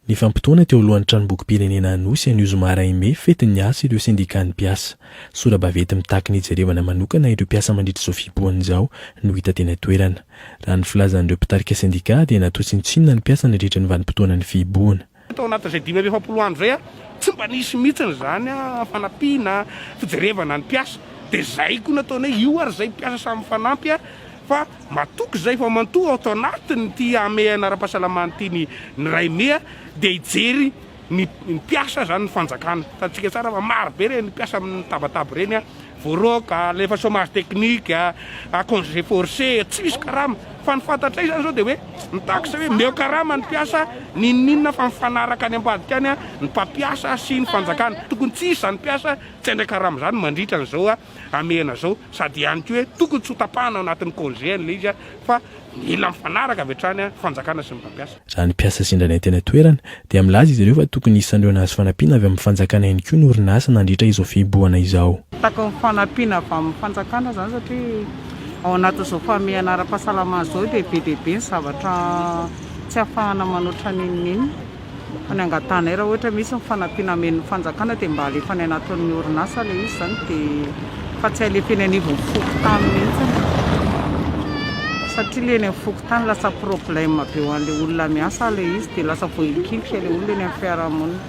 Nifampitaona teo alohan'ny tranombokim-pirenena Anosy anio zoma iray mey fetin'ny asa ireo sendikan'ny mpiasa. Sora-baventy mitaky ny hijerevana manokana ireo mpiasa mandritra izao fihibohana izao no hita teny an-toerana. Raha ny filazan'ireo mpitarika sendika dia natao tsinontsinona ny mpiasa nandritra ny vanim-potoanan'ny fihibohana. Tao anatin'izay dimy amby efapolo andro izay, tsy mba nisy mihitsy izany fanampiana, fijerevana ny mpiasa. Dia izay koa no ataonay, io ary izay mpiasa samy mifanampy fa matoky izay fa mantoa ato anatin'ity hamehana ara-pahasalamana ity ny ny Raime dia hijery ny ny mpiasa izany ny fanjakana. Hitantsika tsara fa maro be ireny mpiasa amin'ny tabataba ireny voaroaka, alefa chômage technique, congé forcé, tsy misy karama. Fa ny fantatray izany izao dia hoe ny taxe hoe meo karama ny mpiasa n'inon'inona fa mifanaraka any ambadika any ny mpampiasa sy ny fanjakana. Tokony tsy hisy izany mpiasa tsy handray karama izany mandritra an'izao hamehana izao. Sady ihany koa hoe tokony tsy ho tapahana ao anatin'ny congé an'ilay izy fa mila mifanaraka avy hatrany ny fanjakana sy ny mpampiasa. Raha ny mpiasa sendra anay teny an-toerana, dia milaza izy ireo fa tokony hisan'ireo nahazo fanampiana avy amin'ny fanjakana ihany koa ny orinasa nandritra izao fihibohana izao. Takao ny fanampiana avy amin'ny fanjakana izany satria ao anatin'izao famehana ara-pahasalamana izao dia be dia be ny zavatra tsy ahafahana manao tra n'inon'inona. Fa ny angatanay raha ohatra misy ny fanampiana amen'ny fanjakana dia mba alefa any anatin'ny orinasa ilay izy izany dia, fa tsy alefa eny anivon'ny fokontany mihitsy satria ilay eny amin'ny fokontany. Tany lasa problème be ho an'ilay olona miasa ilay izy dia lasa voahilikilika ilay olona eny amin'ny fiarahamonina.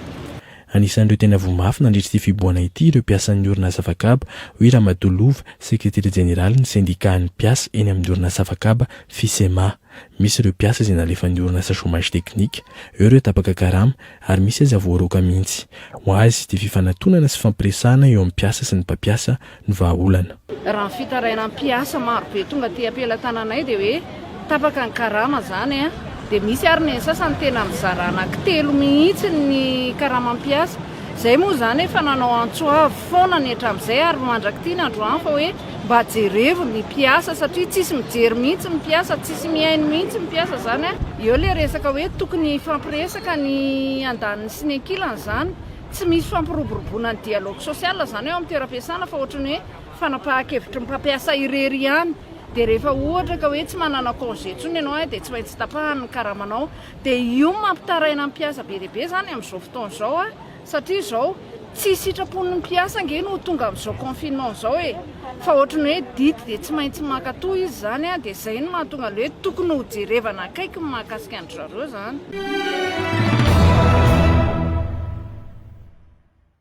Anisan'ireo tena voa mafy nandritra ity fibohana ity ireo mpiasan'ny orinasa Facab, hoy Ramatoa Lova, sekretera jeneralin'ny sendikàn'ny mpiasa eny amin'ny orinasa Facab, Fisema. Misy ireo mpiasa izay nalefan'ny orinasa chômage technique. Eo ireo tapaka karama, ary misy aza voaroaka mihitsy. Ho azy, dia fifanatonana sy fampiresahana eo amin'ny mpiasa sy ny mpampiasa ny vahaolana. Raha ny fitarainan'ny mpiasa marobe tonga aty am-pelatananay dia hoe tapaka ny karama izany an! Dia misy ary ny sasany tena mizara anankitelo mihitsy ny karamam piasa. Izay moa izany efa nanao antso avo foana ny hatramin'izay ary mandrak'ity ny androany fa hoe mba jerevo ny mpiasa satria tsisy mijery mihitsy ny mpiasa, tsisy mihaino mihitsy ny mpiasa izany an! Eo ilay resaka hoe tokony hifampiresaka ny andaniny sy ny ankilany izany. Tsy misy fampiroboroboana ny dialogue social izany eo amin'ny toeram-piasana fa ohatran'ny hoe fanapahan-kevitry ny mpampiasa irery ihany. Dia rehefa ohatra ka hoe tsy manana congé intsony ianao dia tsy maintsy tapahany ny karamanao. Dia io no mampitaraina ny mpiasa be dia be izany amin'izao fotoana izao satria izao tsy sitrapon'ny mpiasa ange no ho tonga amin'izao confinement izao e! Fa ohatry ny hoe didy dia tsy maintsy mankatoa izy izany an, dia izay no mahatonga an'ilay hoe tokony ho jerevana akaiky ny mahakasika an-dry zareo izany.